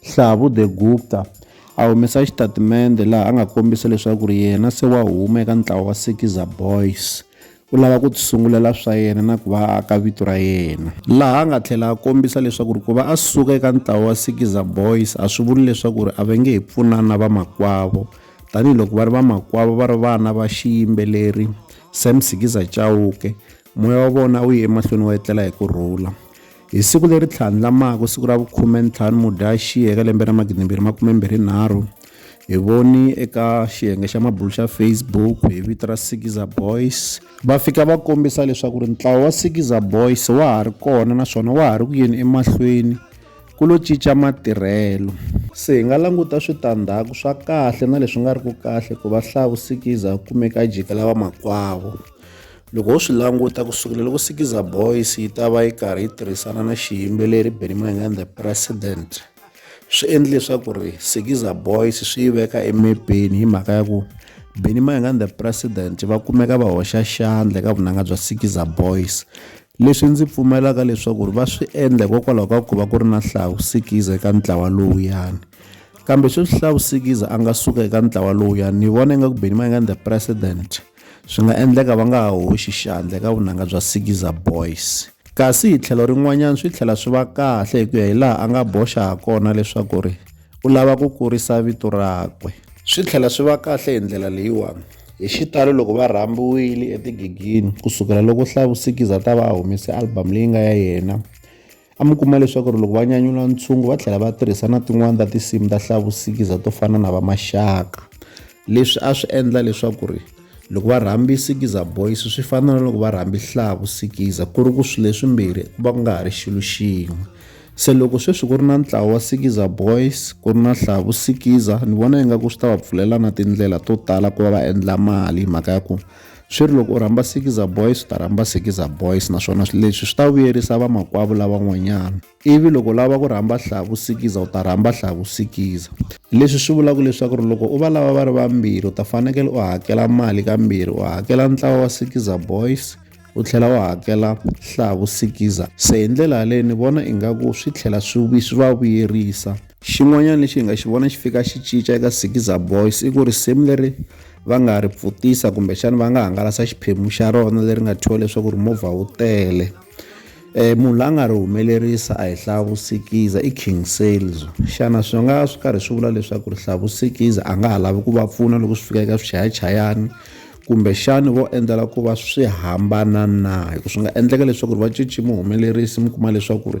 Hlavu de Gupta a humesa xitatimende laha a nga kombisa leswaku ri yena se wa huma eka ntlawa wa Sekiza Boys u lava ku tisungulela swa yena na ku va a aka vito ra yena laha a nga tlhela a kombisa leswaku ri ku va a suka eka ntlawa wa Sekiza Boys a swi vuli leswaku ri a va nge he pfunani na vamakwavo tanihiloko va ri vamakwavo va ri vana va xiyimbeleri Sam Sikiza Chauke Moya wa vona wu ye emahlweni wa etlela hi ku rhula. Hi siku leri tlhandlamaka siku ra vukhume-ntlhanu Mudyaxihi eka lembe ra magidimbirhi makume-mbirhi nharhu, hi voni eka xiyenge xa mabulu xa Facebook hi vito ra Sikiza Boys va fika va kombisa leswaku ri ntlawa wa Sikiza Boys wa ha ri kona naswona wa ha ri ku yeni emahlweni ku lo cinca matirhelo. Se hi nga languta switandzhaku swa kahle na leswi nga ri ku kahle ku va hlawu Sikiza a kumeka a jikela vamakwavo. Loko ho swi languta ku sukela loko Sikiza Boys yi ta va yi karhi yi tirhisana na xiyimbeleri Benny Mayengani the President swi endle leswaku ri Sikiza Boys swi yi veka emepeni hi mhaka ya ku Benny Mayengani the President va kumeka va hoxa xandla eka vunanga bya Sikiza Boys leswi ndzi pfumelaka leswaku ri va swi endla hikokwalaho ka ku va ku ri na Hlahu Sikiza eka ntlawa lowuyani kambe sweswi Hlahu Sikiza a nga suka eka ntlawa lowuyani ni vona ingaku Benny Mayengani the President Swi nga endleka va nga ha hoxi xandla eka vunanga bya Sikiza Boys. Kasi hi tlhelo rin'wanyana swi tlhela swi va kahle hi ku ya hi laha a nga boxa ha kona leswaku ri u lava ku kurisa vito rakwe. Swi tlhela swi va kahle hi ndlela leyiwani, hi xitalo loko va rhambiwile etigigini ku sukela loko Hlavu Sikiza a ta va a humese album leyi nga ya yena, A mi kuma leswaku loko va nyanyula ntshungu va tlhela va tirhisa na tin'wani ta tinsimu ta hlavusikiza to fana na va Maxaka. Leswi a swi endla leswaku ri loko va rhambi Sikiza Boys swi fana na loko va rhambi Hlavu Sikiza ku ri ku swilo leswimbirhi ku va ku nga ha ri xilo xin'we. Se loko sweswi ku ri na ntlawa wa Sikiza Boys ku ri na Hlavu Sikiza ni vona ingaku swi ta va pfulela na tindlela to tala ku va va endla mali hi mhaka ya ku Swi ri loko u rhamba Sikiza Boys u ta rhamba Sikiza Boys naswona leswi swi ta vuyerisa vamakwavo lavan'wanyana. Ivi loko u lava ku rhamba Hlavu Sikiza u ta rhamba Hlavu Sikiza. Leswi swi vulaka leswaku ri loko u va lava va ri vambirhi u ta fanekele u hakela mali kambirhi u hakela ntlawa wa Sikiza Boys u tlhela u hakela Hlavu Sikiza. Se hi ndlela yaleyo ni vona ingaku swi tlhela swi swi va vuyerisa. Xin'wanyana lexi hi nga xi vona xi fika xi cinca eka Sikiza Boys i ku risimu leri va nga ri pfutisa kumbexana va nga hangalasa xiphemu xa rona leri nga thyiwa leswaku ri movha wu tele um munhu la nga ri humelerisa a hi hlavusikiza i king sales xana swi nga swi karhi swi vula leswaku ri hlavusikiza a nga ha lavi ku va pfuna loko swi fika eka swichayachayani kumbexani vo endlela ku va swi hambana na hi ku swi nga endleka leswaku ri va cinci muhumelerisi mi kuma leswaku ri